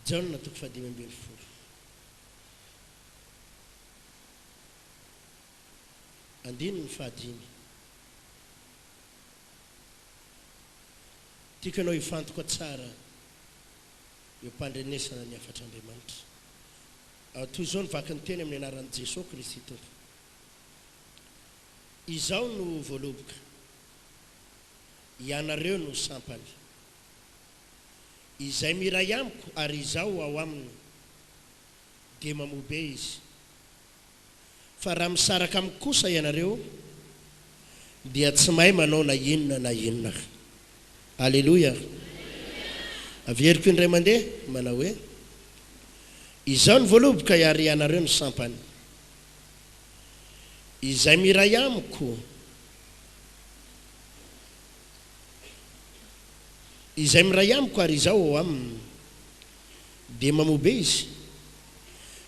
Jaona toko fahadimy ambin'ny folo andininy fahadimy Tiako ianao hifantoka tsara eo am-pandrenesana ny hafatr'Andriamanitra. Ao toy izao ny vakin'ny teny amin'ny anaran'i Jesoa Kristy Tompo. Izaho no voaloboka. Ianareo no sampany. Izay miray amiko ary Izaho ao aminy, dia mamoa be izy. Fa raha misaraka amiko kosa ianareo, dia tsy mahay manao na inona na inona. Aleloia! Averiko indray mandeha manao hoe, Izaho ny voaloboka ary ianareo ny sampany. Izay miray amiko, izay miray amiko ary Izaho ao aminy, dia mamobe izy,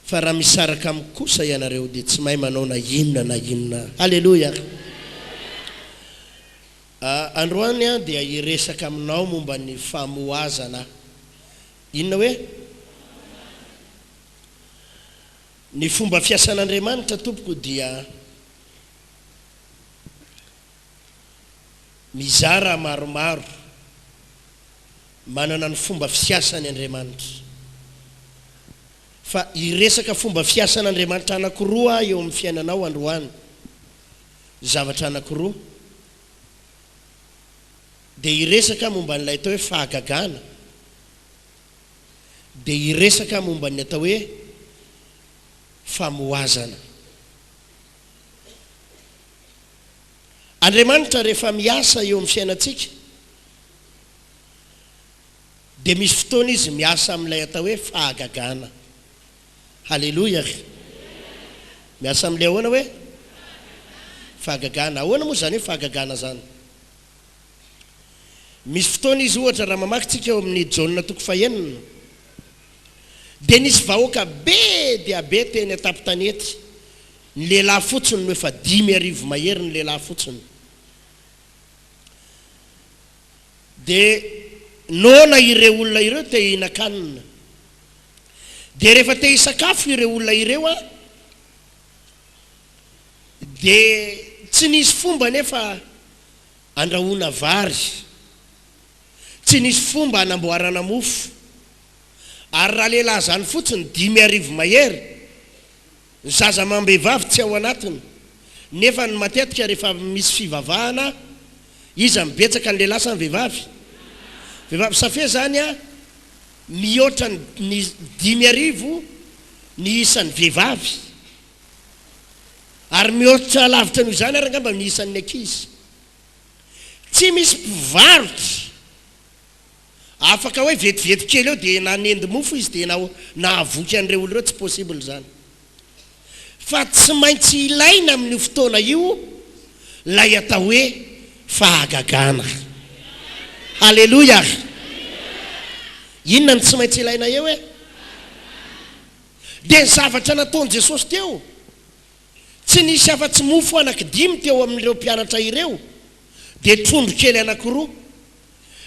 fa raha misaraka amiko kosa ianareo dia tsy mahay manao na inona na inona. Haleloia! Androany aho dia hiresaka aminao momba ny famohazana. Inona hoe? Ny fomba fiasan'Andriamanitra tompoko dia mizara maromaro, manana ny fomba fiasany Andriamanitra. Fa hiresaka fomba fiasan'Andriamanitra anakiroa aho eo amin'ny fiainanao androany, zavatra anakiroa. Dia hiresaka aho momba an'ilay atao hoe fahagagana. dia hiresaka momba ny atao hoe famohazana. Andriamanitra rehefa miasa eo amin'ny fiainantsika dia misy fotoana izy miasa amin'ilay atao hoe fahagagana. Haleloia ry. Miasa amin'ilay ahoana hoe? Fahagagana. Ahoana moa izany hoe fahagagana izany? Misy fotoana izy, ohatra, raha mamaky tsika ao amin'ny Jaona toko fahenina, dia nisy vahoaka be dia be teny an-tampon-tanety, ny lehilahy fotsiny no efa dimy arivo mahery ny lehilahy fotsiny. Dia noana ireo olona ireo te hihinan-kanina. Dia rehefa te hisakafo ireo olona ireo an, dia tsy nisy fomba anefa Andrahoana vary. Tsy nisy fomba hanamboarana mofo. Ary raha lehilahy izany fotsiny dimy arivo mahery, ny zaza amam-behivavy tsy ao anatiny. Nefa ny matetika rehefa misy fivavahana, iza no betsaka, ny lehilahy sa ny vehivavy? Vehivavy. Ça fait izany a, mihoatra ny dimy arivo ny isan'ny vehivavy. Ary mihoatra lavitra noho izany ary angamba ny isan'ny ankizy. Tsy misy mpivarotra afaka hoe vetivety kely eo dia nanendy mofo izy dia nahavoky an'ireo olona ireo, tsy possible izany. Fa tsy maintsy ilaina amin'io fotoana io ilay atao hoe fahagagana. Haleloia! Inona no tsy maintsy ilaina eo e? Dia ny zavatra nataon'i Jesosy teo, tsy nisy afa-tsy mofo anankidimy teo amin'ireo mpianatra ireo, dia trondro kely anankiroa.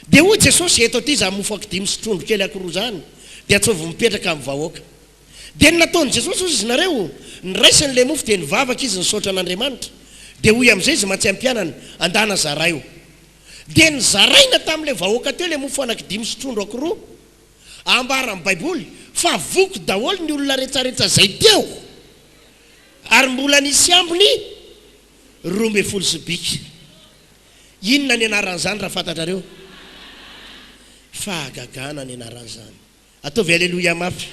Dia hoy Jesosy, Eto aty izany mofo ankidimy sy trondro kely ankiroa izany, dia atsovo mipetraka amin'ny vahoaka. Dia ny nataon'i Jesosy, hoy izy nareo, ny raisiny ilay mofo dia nivavaka izy nisaotra an'Andriamanitra, dia hoy amin'izay izy mantsy ampianany, Andana zaraio. Dia nizaraina tamin'ilay vahoaka teo ilay mofo anankidimy sy trondro ankiroa. Ambaran'ny Baiboly fa voky daholo ny olona retsaretsa izay teo, ary mbola nisy ambiny roa ambin'ny folo sobika. Inona ny anaran'izany raha fantatrareo? Fahagagana ny anaran'izany. Ataovy Aleloia mafy.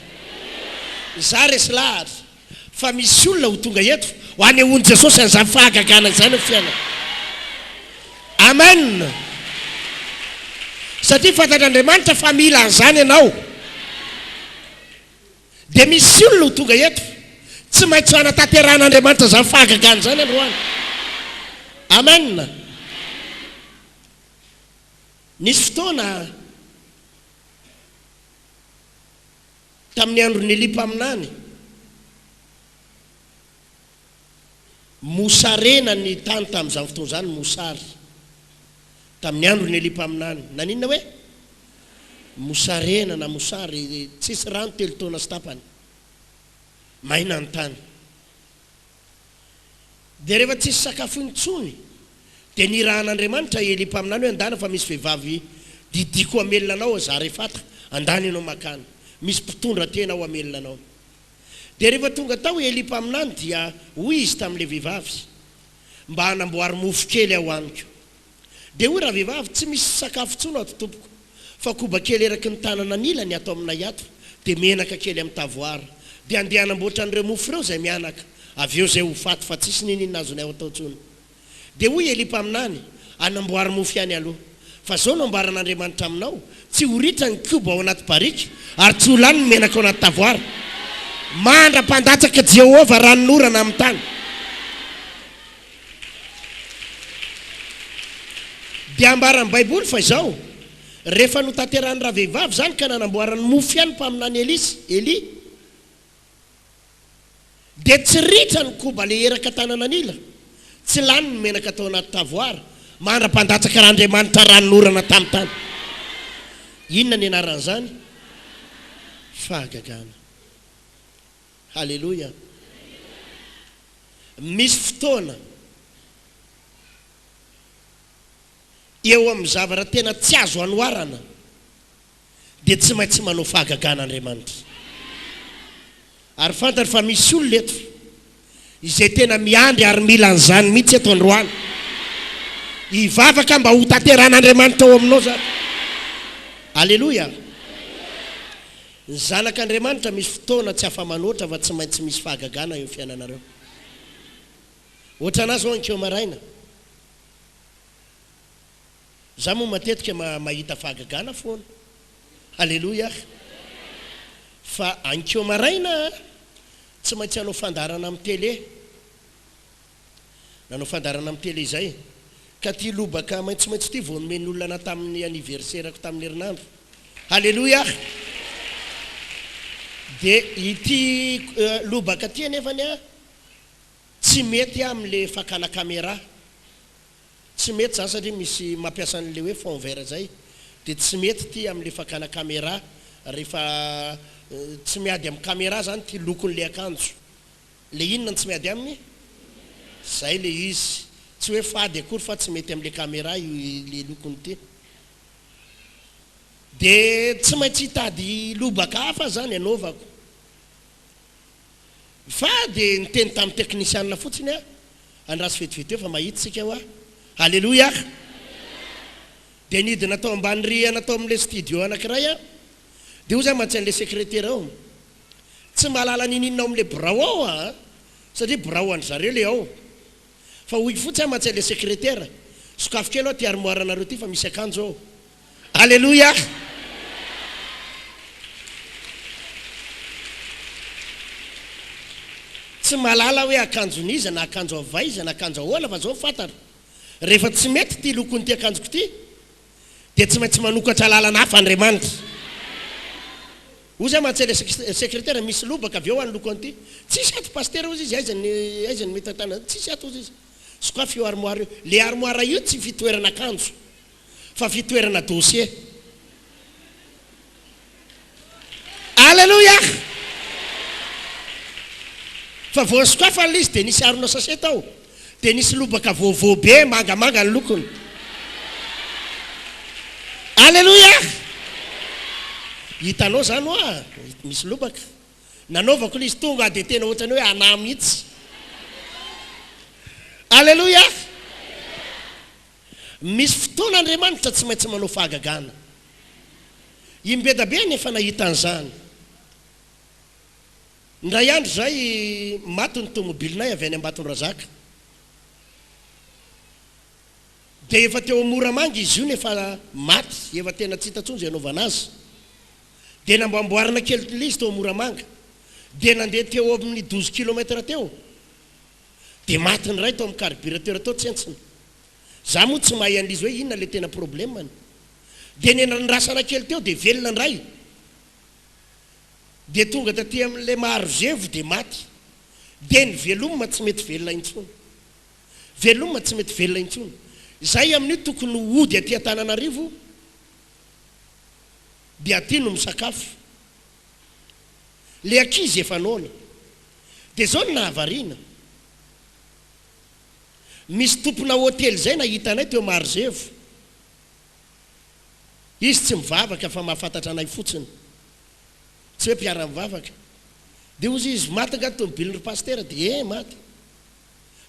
Izaho resy lahatra. Fa misy olona ho tonga eto ho anehoan'i Jesosy an'izany fahagagana izany amin'ny fiainany. Amen! Satria fantatr'Andriamanitra fa mila an'izany ianao. Dia misy olona ho tonga eto, tsy maintsy hanatanterahan'Andriamanitra izany fahagagana izany androany. Amen! Nisy fotoana, Tamin'ny andron'i Elia mpaminany, mosarena ny tany tamin'izany fotoana izany, mosary. Tamin'ny andron'i Elia mpaminany, naninona hoe? Mosarena na mosary, tsisy rano telo taona sy tapany. Maina ny tany. Dia rehefa tsisy sakafo intsony, dia nirahan'Andriamanitra i Elia mpaminany hoe, Andana fa misy vehivavy didiako hamelona anao ao Zarefata, andany ianao mankany, misy mpitondra tena ao hamelona anao. Dia rehefa tonga tao i Elia mpaminany dia hoy izy tamin'ilay vehivavy, Mba anamboary mofo kely aho amiko. Dia hoy ravehivavy, tsy misy sakafo tsony ato tompoko, fa koba kely eraky ny tanana anilany ato aminay ato, dia menaka kely amin'ny tavoara. Dia andeha hanamboatra an'ireo mofo ireo izay mianaka, avy eo izay ho faty, fa tsisy niniana azonay atao tsony. Dia hoy Elia mpaminany, anamboary mofo ihany aloha. Fa zao no ambaran'Andriamanitra aminao, tsy ho ritra ny koba ao anaty barika, ary tsy ho lany ny menaka ao anaty tavoara, mandra-pandatsaka Jehovah ranon'orana amin'ny tany. Dia ambaran'ny Baiboly fa izao, Rehefa notanterahin'ny ravehivavy izany ka nanamboarany mofo ihany ny mpaminany Elisa, Elia, dia tsy ritra ny koba leheraka tanana an'ila, tsy lany ny menaka tao anaty tavoara, mandra-pandatsaka raha Andriamanitra ranonorana tamin'ny tany. Inona ny anaran'izany? Fahagagana. Haleloia! Misy fotoana eo amin'ny zavatra tena tsy azo anoharana dia tsy maintsy manao fahagagana Andriamanitra. Ary fantany fa misy olona eto izay tena miandry ary mila an'izany mihitsy eto androany. Hivavaka mba hotanterahan'Andriamanitra ao aminao izany. Haleloia! Ny zanak' Andriamanitra misy fotoana tsy afa-manoatra fa tsy maintsy misy fahagagana eo fiainanareo. Ohatranà zao ankeo maraina. Za moa matetika ma mahita fahagagana foana. Haleloiah! Fa ankeo maraina a, tsy maintsy hanao fandaharana am tele. Nanao fandaharana amin'ny tele izay. Ka ity lobaka maitsomaitso ity vao nomen'ny olona anà tamin'ny anniversaire-ko tamin'ny herinandro. Haleloia! Dia ity lobaka ity anefany an, tsy mety amin'ilay fakana camera. Tsy mety izany satria misy mampiasa an'ilay hoe fond vert izay. Dia tsy mety ity amin'ilay fakana camera rehefa tsy miady amin'ny camera izany ity lokon'ilay akanjo. Le inona no tsy miady aminy? Zay le izy. Tsy hoe fady akory fa tsy mety amle camera io le lokony ty. De tsy maintsy hitady lobaka hafa zany anaovako. Fa de niteny tamin'ny teknisianina fotsiny aho, andraso vetivety eo fa mahita isika hoa. Aleloia! De nidina tao ambany rihana tao amin'ilay studio anankiray aho, de hoza mantsy an'ilay sekretera ao. Tsy mahalala n'ininona ao amin'ilay birao ao aho an! Satria birao an-dry zareo ilay ao. Fa hoy fotsy aho mantsy an'ilay sekretera, sokafy kely ao ity armoire anareo ity fa misy akanjo ao. Aleloia! Tsy mahalala aho hoe akanjon'iza na akanjo avy aiza na akanjo ahoana fa izao fantatro, rehefa tsy mety ity lokon'ity akanjoko ity dia tsy maintsy manokatra lalana hafa Andriamanitra. Ozy aho mahatsy ilay sekretera misy lobaka avy eo aho niloko an'ity. Tsisy ato Pasitera ozy izy, aiza ny aiza ny mitantana an'ity? Tsisy ato ozy izy. Sokafy io armoara io. Ilay armoara io tsy fitoerana akanjo fa fitoerana dossier. Aleloia! Fa voasokafana ilay izy dia nisy harona sachet tao. Dia nisy lobaka vaovao be mangamanga ny lokony. Aleloia! Hitanao izany hoa, misy lobaka. Nanaovako ilay izy tonga dia tena ohatran'ny hoe anà mihitsy. Aleloia! Misy fotoana Andriamanitra tsy maintsy manao fahagagana. I Mbedabe anefa nahita an'izany. Indray andro izay, maty ny tomobilinay avy any Ambatondrazaka. Dia efa teo amin'ny Moramanga izy io nefa maty, efa tena tsy hita intsony izay hanaovana azy. Dia namboamboarina kely ilay izy tao Moramanga. Dia nandeha teo amin'ny douze kilomètre teo. Dia maty ny ray tao amin'ny carburateur tao tsentsina. Za moa tsy mahay an'izy hoe inona ilay tena problème-ny. Dia niandrasana kely teo dia velona ny ray. Dia tonga taty amin'ilay maharozevo dia maty. Dia ny veloma tsy mety velona intsony. Veloma tsy mety velona intsony. Izay amin'io tokony hody aty Antananarivo dia aty no misakafo. le ankizy efa noana de zao no nahavariana misy tompona hotely zay nahita anay teo Marozevo izy tsy mivavaka fa mahafantatra anay fotsiny tsy hoe mpiara mivavaka de ozy izy maty nga ny tomobilin ry pasitera de eh maty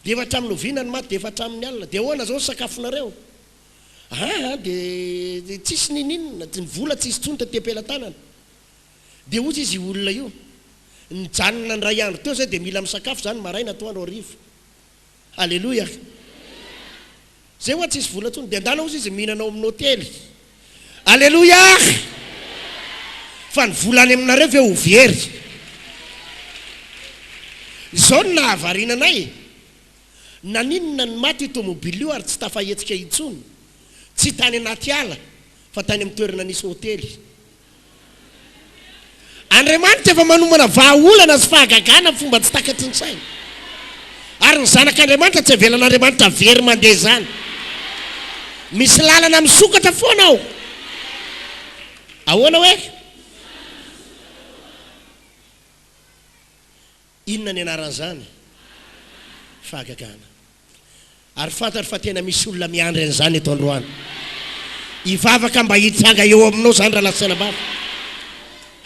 Dia efa hatramin'ny oviana ny maty dia efa hatramin'ny alina dia ahoana izao ny sakafonareo? Aa dia tsisy ninininona, ny vola tsisy intsony taty am-pelatanana. Dia hozy izy io olona io, nijanona indray andro teo izay dia mila misakafo izany maraina, atoandro, hariva. Aleloia! Zay hoa tsisy vola tsony de andala ozy izy mihinana ao aminy hotely aleloia fa ny vola any aminareo ve ho very zao no nahavariana anay naninona ny maty io tomobile io ary tsy tafahetsika intsony tsy tany anaty ala fa tany amin'ny toerana nisy hotely Andriamanitra efa manomana vahaolana sy fahagagana amin'ny fomba tsy takatry ny saina. Ary ny zanak'Andriamanitra tsy avelan'Andriamanitra very mandeha izany. Misy lalana misokatra foana ao. Ahoana hoe? Inona ny anaran'izany? Fahagagana. Ary fantatro fa tena misy olona miandry an'izany eto androany. Hivavaka mba hitsanga eo aminao izany raha lasa tsenam-bato.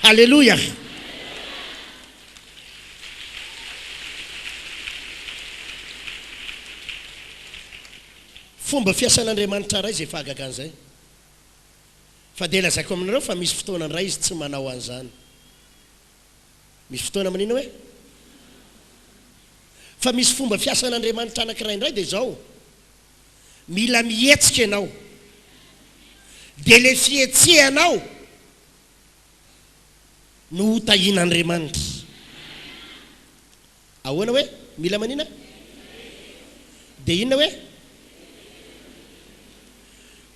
Haleloia! Fomba fiasan'Andriamanitra iray izay fahagagana izay. Fa dia lazaiko aminareo fa misy fotoana indray Izy tsy manao an'izany. Misy fotoana miniana hoe fa misy fomba fiasan'Andriamanitra anankiray indray dia izao, mila mihetsika ianao, dia ilay fihetsehanao no ho tahian'Andriamanitra. Ahoana hoe mila manina? Dia inona hoe?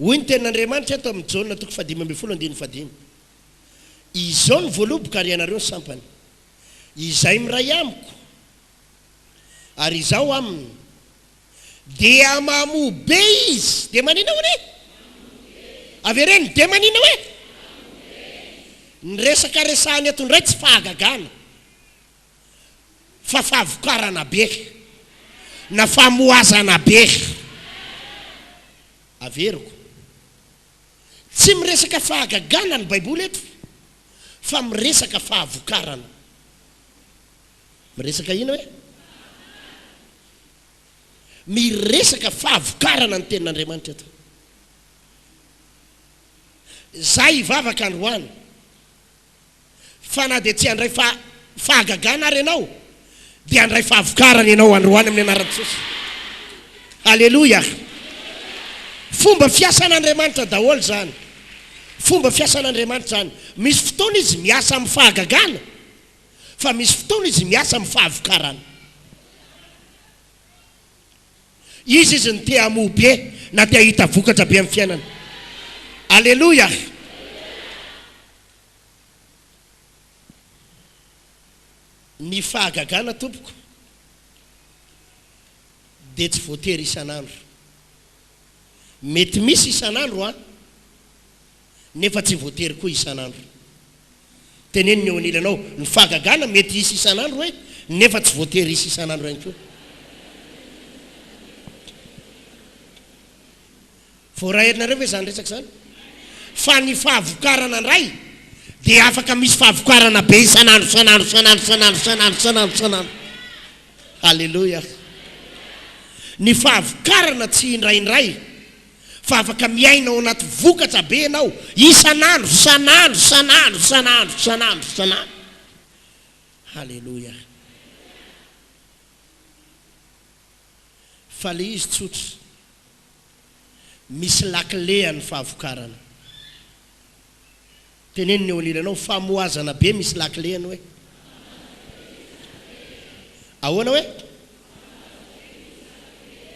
Hoy ny tenin'Andriamanitra eto amin'ny Jaona toko fahadimy ambin'ny folo andininy fahadimy, Izao no voaloboka ary ianareo ny sampany. Izay miray amiko ary izaho aminy dia mamoa be izy. Dia maninona hono e? Avereno, dia maninona hoe? Ny resaka resahany eto indray tsy fahagagana fa fahavokarana be na famohazana be. Averiko. Tsy miresaka fahagagana ny Baiboly eto, fa miresaka fahavokarana. Miresaka inona hoe? Miresaka fahavokarana ny Tenin'Andriamanitra eto. Izaho hivavaka androany. Fa na dia tsy handray fa fahagagana ary ianao, dia handray fahavokarana ianao androany amin'ny anaran'i Jesosy. Aleloia! Fomba fiasan'Andriamanitra daholo izany. Fomba fiasan'Andriamanitra izany. Misy fotoana Izy miasa amin'ny fahagagana, fa misy fotoana Izy miasa amin'ny fahavokarana. Izy izy no te hamoa be na te hahita vokatra be amin'ny fiainana. Aleloia! Ny fahagagana tompoko dia tsy voatery isan'andro. Mety misy isan'andro an! nefa tsy voatery koa isan'andro. Teneno ny eo anilanao ny fahagagana mety hisy isan'andro hoe nefa tsy voatery hisy isan'andro ihany koa. Voaraelinareo ve izany resaka izany? Fa ny fahavokarana indray dia afaka misy fahavokarana be isan'andro, isan'andro, isan'andro, isan'andro, isan'andro, isan'andro, isan'andro. Haleloia! Ny fahavokarana tsy indraindray. Fa afaka miaina ao anaty vokatra be ianao isan'andro, isan'andro, isan'andro, isan'andro, isan'andro, isan'andro. Haleloia! Fa ilay izy tsotra, misy lakile an'ny fahavokarana. Teneno ny eo anilanao famohazana be misy lakile ny hoe. Ahoana hoe?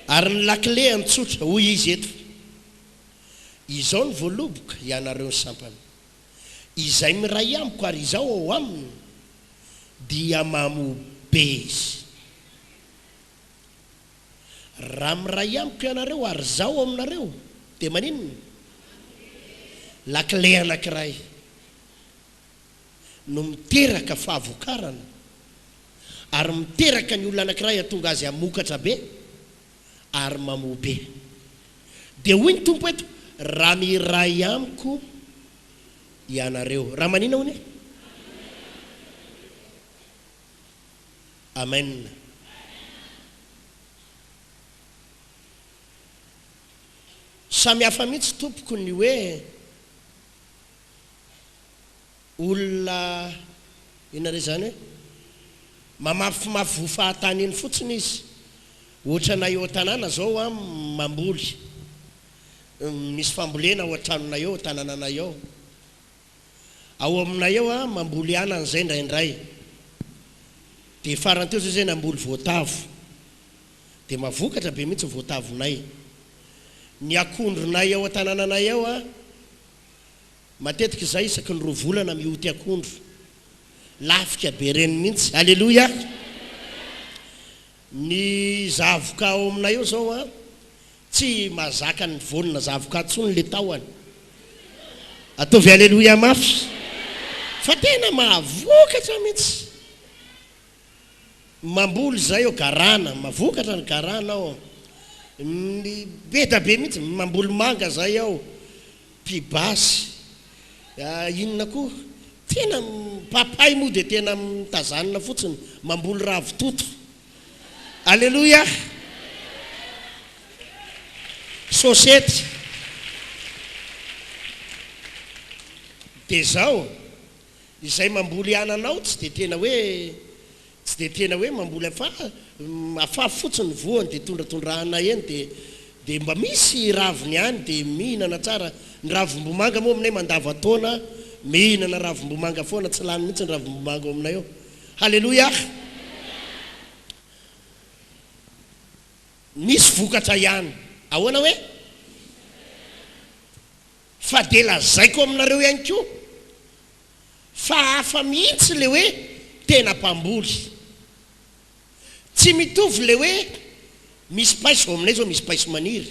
Ary ny lakile antsotra, hoy izy eto fa. Izao ny voaloboka, ianareo ny sampana. Izay miray amiko ary izaho ao aminy dia mamoa be izy. Raha miray amiko ianareo ary izaho ao aminareo dia maninona? Lakile anankiray no miteraka fahavokarana ary miteraka ny olona anankiray hatonga azy hamokatra be ary mamoa be. Dia hoy ny Tompo eto, Raha miray amiko ianareo. Raha maninona hono e? Amen Samy hafa mihitsy tompoko ny hoe olona inona re izany hoe mamafimafy voa fahatany iny fotsiny izy ohatrana eo an-tanàna izao an mamboly misy fambolena ao an-tranonay ao an-tanànanay ao Ao aminay ao a, mamboly anana izay indraindray. Dia farany teo izay izahay namboly voatavo. Dia mahavokatra be mihitsy ny voatavonay. Ny akondronay ao an-tanànanay ao a, matetika izahay isaky ny roa volana mioty akondro. Lafika be ireny mihitsy. Aleloia! Ny zavoka ao aminay ao izao a, Tsy mazaka ny voanina zavoka tsony le tahony. Ataovy aleloia mafy fa tena mahavokatra mintsy. Mamboly izay ao garana, mavokatra ny garana ao. Be da be mintsy, mamboly manga izay ao, pibasy, inona koa, tena papay moa dia tena mitazanina fotsiny, mamboly ravitoto. Aleloia! Sôsety. Dia zao, izay mamboly ananao tsy dia tena hoe, tsy dia tena hoe mamboly afafy, afafy fotsiny ny voany dia tondratondrahana eny dia, dia mba misy raviny ihany dia mihinana tsara, ny ravimbomanga moa aminay mandavan-taona mihinana ravimbomanga foana, tsy lany mihitsy ny ravimbomanga ao aminay ao. Haleloiah! Nisy vokatra ihany. Ahoana hoe? Fa dia lazaiko aminareo ihany koa, fa hafa mihitsy ilay hoe tena mpamboly. Tsy mitovy ilay hoe misy paiso, ao aminay izao misy paiso maniry,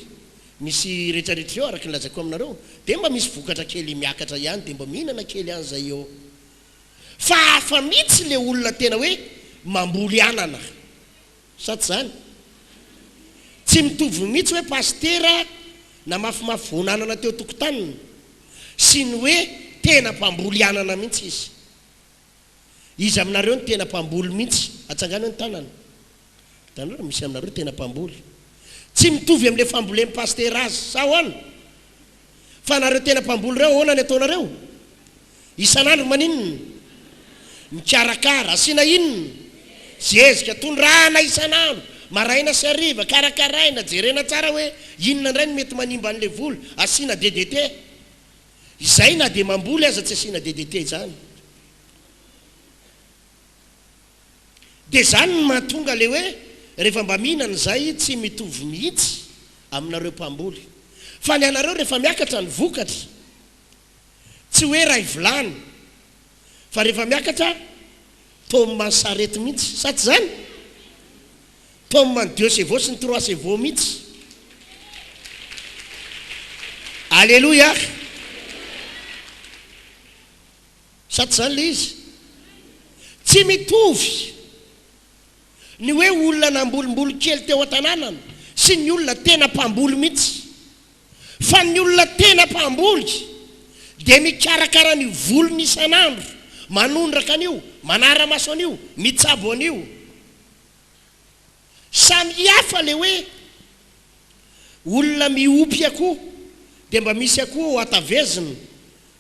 misy rehetrarehetra ireo araka ny lazaiko aminareo, dia mba misy vokatra kely miakatra ihany, dia mba mihinana kely any izay eo. fa hafa mihitsy le olona tena hoe mamboly anana sa tsy zany? tsy mitovy mihitsy hoe pasitera namafimafy voan'anana teo tokotaniny sy ny hoe tena mpamboly anana mihitsy izy, iza aminareo no tena mpamboly mihitsy atsangano ny tanana? Hitanareo misy anareo tena mpamboly tsy mitovy amle fambolem pasitera azy sa ahoana? Fa anareo tena mpamboly ireo ahoana ny ataonareo? Isanandro maninona? Mikarakara, asiana inona? Zezika, tondrahana isanandro, maraina sy hariva, karakaraina, jerena tsara hoe inona indray no mety manimba anle voly, asiana DDT. Izay na dia mamboly aza tsy asiana DDT izany. Dia izany no mahatonga ilay hoe rehefa mba mihinana izay tsy mitovy mihitsy aminareo mpamboly. Fa ny anareo rehefa miakatra ny vokatra, tsy hoe iray vilany, fa rehefa miakatra tome ny sarety mihitsy. Sa tsy izany? Tome ny deux chevaux sy ny trois chevaux mihitsy. Aleloia! Sa tsy izany ilay izy? Tsy mitovy ny hoe olona nambolimboly kely teo an-tanànany sy ny olona tena mpamboly mihitsy. Fa ny olona tena mpamboly dia mikarakara ny voliny isan'andro, manondraka an'io, manara-maso an'io, mitsabo an'io. Samy hafa le hoe olona miompy akoho dia mba misy akoho ho atavezina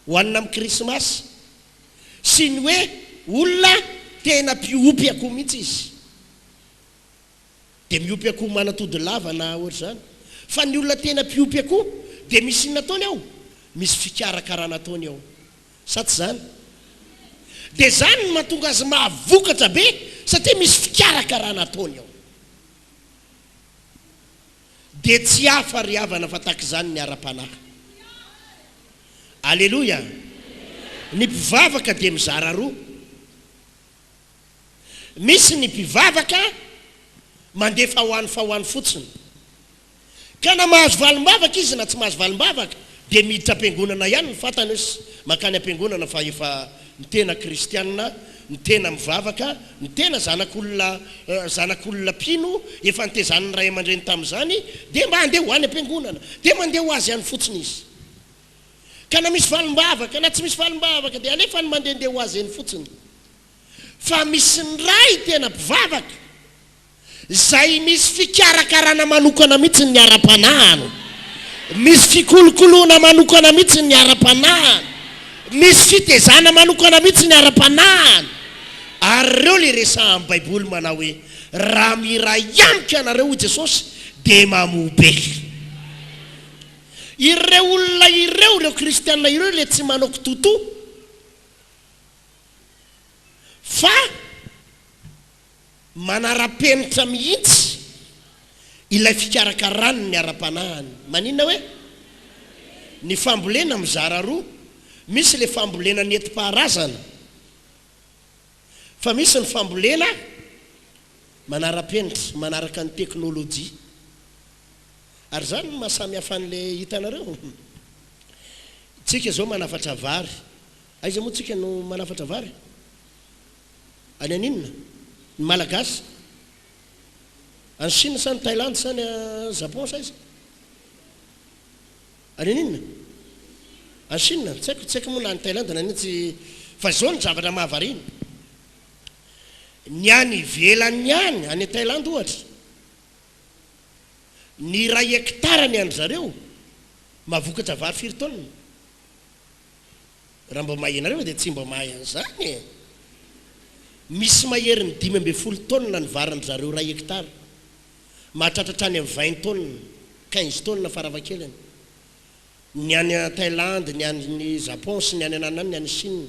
ho hanina amin'ny krismasy sy ny hoe olona tena mpiompy akoho mihitsy izy dia miompy akoho manatody lava na ohatr'izany fa ny olona tena mpiompy akoho dia misy inona ataony ao? misy fikarakarana ataony ao Sa tsy izany? Dia izany no mahatonga azy mahavokatra be satria misy fikarakarana ataony ao. Dia tsy hafa ry havana fa tahaka izany ny ara-panahy. Aleloia! Ny mpivavaka dia mizara roa. Misy ny mpivavaka mandeha faohany faohany fotsiny. Ka na mahazo valim-bavaka izy na tsy mahazo valim-bavaka dia miditra am-piangonana ihany ny fatany os makany am-piangonana fa efa ny tena kristianina, ny tena mivavaka, ny tena zanak'olona zanak'olona mpino efa nitezanin'ny ray aman-dreny tamin'izany dia mba andeha ho any am-piangonana. Dia mandeha ho azy any fotsiny izy. Ka na misy valim-bavaka na tsy misy valim-bavaka dia alefany mandehandeha ho azy eny fotsiny. fa misy ny Ray tena mpivavaka izay misy fikarakarana manokana mihitsy ny ara-panahiny, misy fikolokoloana manokana mihitsy ny ara-panahiny, misy fitezana manokana mihitsy ny ara-panahiny. Ary ireo ilay resahan'ny Baiboly manao hoe, Raha miray amiko ianareo, hoy Jesosy, dia mamoa be. Ireo olona ireo, ireo kristiana ireo ilay tsy manao kitoatoa, Fa manara-penitra mihitsy ilay fikarakarany ny ara-panahiny. Maninona hoe? Ny fambolena mizara roa, misy ilay fambolena nentim-paharazana, fa misy ny fambolena manara-penitra, manaraka ny teknolojia. Ary izany no maha samy hafa an'ilay hitanareo. Isika izao manafatra vary, Aiza moa tsika no manafatra vary? Any aninona? Ny Malagasy? Any Chine sa any Thailand sa any Japon sa aiza? Any aninona? Any Chine? Tsy haiko, tsy haiko moa na any Thailand na aninona tsy Fa zao ny zavatra mahavariana, ny any ivelany any, any Thailand ohatra, ny iray hectare ny an-dry zareo mahavokatra vary firy taonina? Raha mba mahay ianareo fa dia tsy mba mahay an'izany e! Misy maherin'ny dimy ambin'ny folo taonina ny varin-dry zareo iray hectare. Mahatratra hatrany amin'ny vingt taonina, quinze taonina farafahakeliny. Ny any Thailandy, ny any Japon sy ny any ananany, ny any Chine.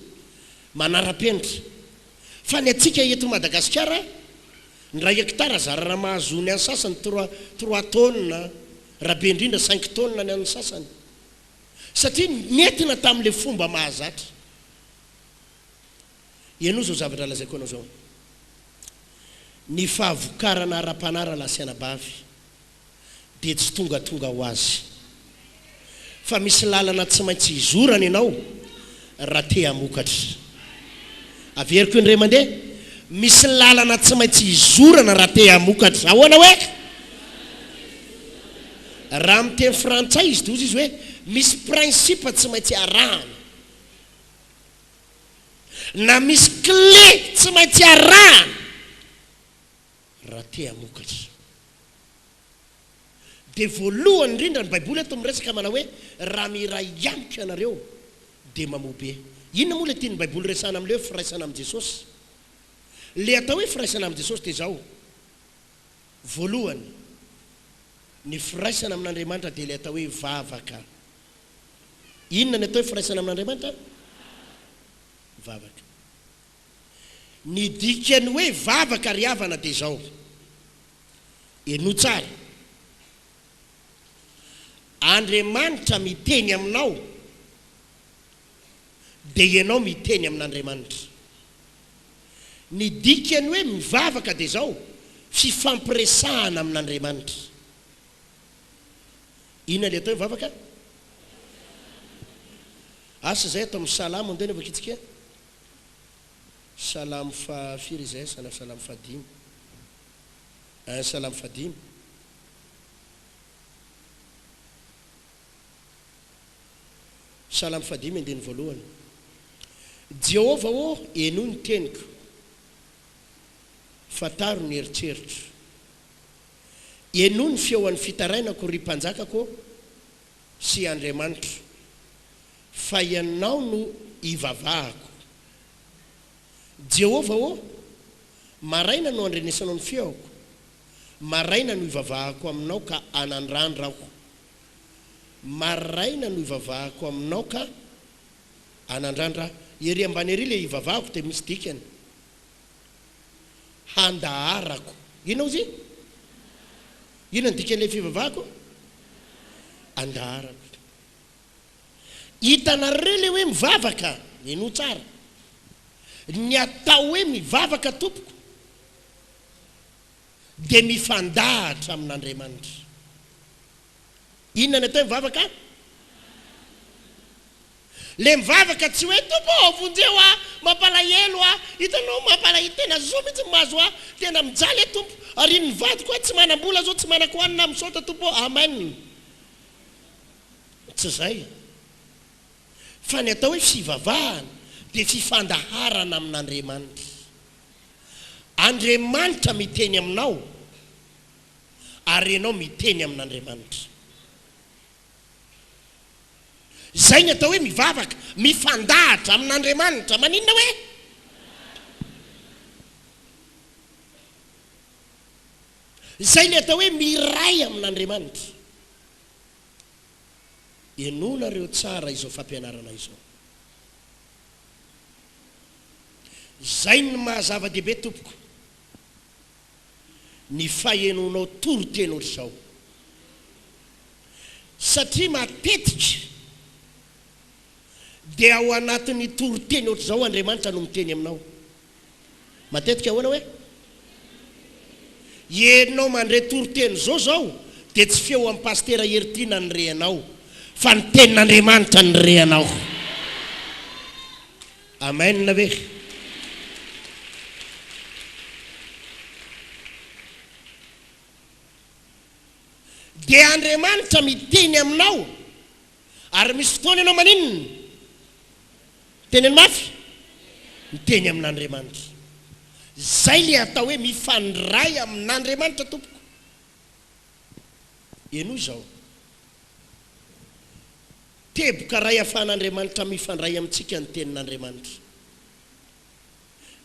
Manara-penitra. Fa ny antsika eto Madagasikara, ny iray hectare zara raha mahazo ny an'ny sasany trois, trois taonina, raha be indrindra cinq taonina ny an'ny sasany. satria nentina tamin'ilay fomba mahazatra. Henoy izao zavatra lazaiko anao izao, Ny fahavokarana ara-panahy rahalahy sy anabavy dia tsy tongatonga ho azy, fa misy lalana tsy maintsy hizorany ianao, Raha te hamokatra. Averiko indray mandeha, misy lalana tsy maintsy hizorana raha te hamokatra. Ahoana hoe? Raha amin'ny teny frantsay izy doza izy hoe misy principe tsy maintsy arahana. Na misy clé tsy maintsy arahana. Raha te hamokatra. Dia voalohany indrindra ny baiboly eto miresaka manao hoe raha miray amiko ianareo dia mamobe. Inona moa ilay tian'ny baiboly resahana amin'ilay hoe firaisana amin'i Jesosy? Ilay atao hoe firaisana amin'i Jesosy dia izao, voalohany, ny firaisana amin'Andriamanitra dia ilay atao hoe vavaka. Inona ny atao hoe firaisana amin'Andriamanitra? Vavaka. Ny dikan'ny hoe vavaka ry havana dia izao, henoy tsara, Andriamanitra miteny aminao dia ianao miteny amin'Andriamanitra. Ny dikan'ny hoe mivavaka dia izao, fifampiresahana amin'Andriamanitra. Inona ilay atao hoe vavaka? Asa izay atao amin'ny salamo andeha anaovakitsika. Salamo faha firy izay sana salamo faha dimy ein salamo faha dimy Salamo faha dimy andininy voalohany Jehovah ô henoy ny teniko fantaro ny eritreritro henoy ny feon'ny fitarainako ry mpanjakako ô sy Andriamanitra, fa Ianao no ivavahako. Jehovah ô, maraina no andrenesanao ny feoko, maraina no ivavahako aminao ka anandrandra aho, maraina no ivavahako aminao ka anandrandra aho. Ery ambany ery ilay ivavahako dia misy dikany. handaharako. Inona ozy? Inona ny dikan'ilay fivavahako? Andaharako. Hitanareo ilay hoe mivavaka? Minoa tsara. Ny atao hoe mivavaka tompoko dia mifandahatra amin'Andriamanitra. Inona ny atao hoe mivavaka? Ilay mivavaka tsy hoe, Tompo ô, vonjeo aho, mampalahelo aho, hitanao, mampalahelo, tena zo mihitsy ny mahazo ahy, tena mijaly aho Tompo, arian'ny vadiko aho, tsy manam-bola izao, tsy manako hanina aho, misaotra Tompo ô, Amen. Tsy izay. Fa ny atao hoe fivavahana dia fifandaharana amin'Andriamanitra. Andriamanitra miteny aminao. ary ianao miteny amin'Andriamanitra. Izay ny atao hoe mivavaka, mifandahatra amin'Andriamanitra. Maninona hoe? Izay ny atao hoe miray amin'Andriamanitra. Enonareo tsara izao fampianarana izao. Izay ny maha zava-dehibe tompoko. ny fahenoanao toriteny otrzao satria matetika dia ao anatin'ny toriteny otrzao Andriamanitra no miteny aminao. Matetika ahoana hoe? Enao mandre toriteny zao zao dia tsy feo an'i Pasitera Heritina ny reanao fa ny tenin'Andriamanitra ny reanao. Amen ve? Dia Andriamanitra miteny aminao ary misy fotoana ianao maninona? Teneno mafy, miteny amin'Andriamanitra. Izay ilay atao hoe mifandray amin'Andriamanitra tompoko. Henoy izao, Teboka iray ahafahan'Andriamanitra mifandray amintsika ny Tenin'Andriamanitra.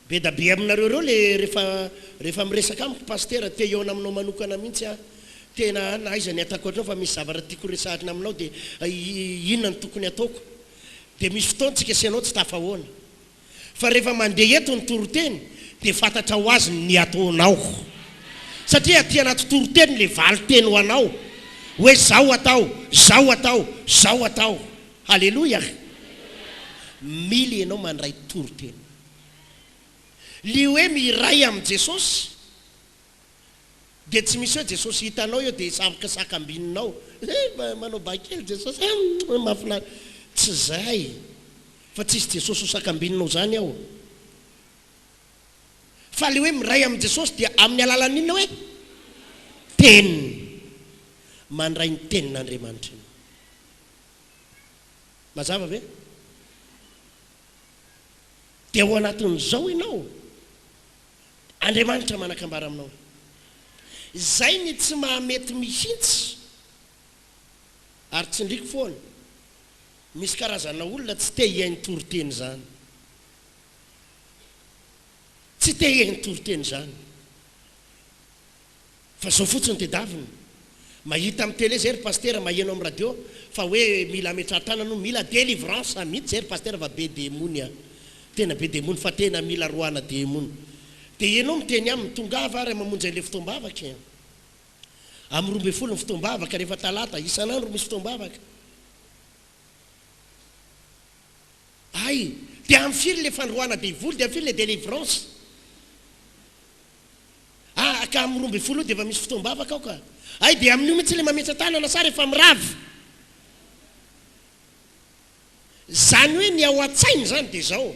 Be da be aminareo ireo le rehefa rehefa miresaka amiko Pasitera, te hihaona aminao manokana mihitsy aho. Tena an, aiza ny ataoko hatreo fa misy zavatra tiako horesahina aminao dia inona no tokony hataoko? Dia misy fotoana tsika sy ianao tsy tafahoana. Fa rehefa mandeha eto ny toriteny dia fantatra ho azy ny ataonao. Satria aty anaty toriteny le valinteny ho anao hoe zao atao, zao atao, zao atao. Haleloia! Mila ianao mandray toriteny. Le hoe miray amin'i Jesosy. Dia tsy misy hoe Jesosy hitanao eo dia savoka sakambinao eh mba manao bahy kely Jesosy eh mahafinaritra. Tsy izay fa tsy hisy Jesosy ho sakambinao izany aho. Fa ilay hoe miray amin'i Jesosy dia amin'ny alalan'ny inona hoe? Teniny. Mandray ny tenin'Andriamanitra ianao. Mazava ve? Dia ao anatin'izao ianao. Andriamanitra manakambara aminao. Izay ny tsy mahamety mihintsy ary tsindriko foana misy karazana olona tsy te hihaino toriteny izany. Tsy te hihaino toriteny izany. Fa zao fotsiny tedaviny. Mahita am tele zay ry pasitera, maheno am radio fa hoe mila ametraha tanana hono, mila delivrance mihitsy zay ry pasitera fa be demony a! tena be demony fa tena mila roahana demony. Dia ianao miteny aminy, tongava ary mamonjy an'ilay fotoam-bavaka e! Am roa ambin'ny folo ny fotoam-bavaka rehefa talata, isan'andro misy fotoam-bavaka. Hay! Dia am firy ilay fandroahana devoly, dia am firy ilay delivrance? Ah ka amin'ny roa ambin'ny folo io dia efa misy fotoam-bavaka ao ka. Hay dia amin'io mihitsy ilay mametsa-tanana sa rehefa mirava? Izany hoe ny ao an-tsainy izany dia izao,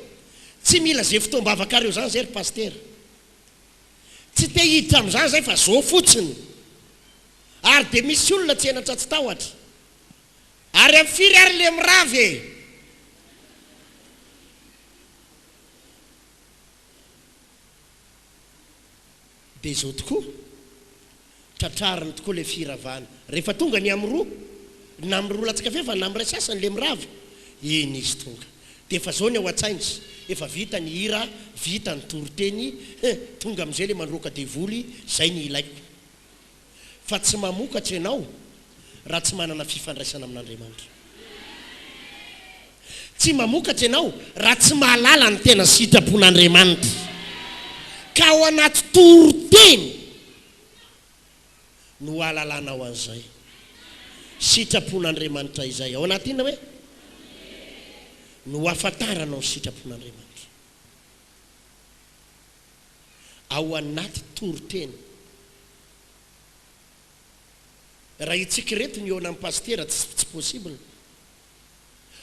tsy mila izay fotoam-bavakareo izany izay ry Pasitera. Tsy te hiditra amin'izany izahay fa izao fotsiny. Ary dia misy olona tsy henatra tsy tahotra. Ary amin'ny firy ary ilay mirava e? Dia izao tokoa, tratrariny tokoa ilay firavana. Rehefa tonga ny amin'ny roa, na amin'ny roa latsaka f'efa na amin'ny iray sasany ilay mirava, iny izy tonga. Dia efa izao ny ao an-tsainy, efa vita ny hira, vita ny toriteny, he, tonga amin'izay ilay mandroaka devoly, izay ny ilaiko. fa tsy mamokatra ianao raha tsy manana fifandraisana amin'Andriamanitra. Tsy mamokatra ianao raha tsy mahalala ny tena sitrapon'Andriamanitra, ka ao anaty toriteny no hahalalanao an'izay sitrapon'Andriamanitra izay. Ao anaty inona hoe? No hahafantaranao ny sitrapon'Andriamanitra. ao anaty toriteny. Raha itsika ireto ny eo anan'ny pasitera tsy tsy possible.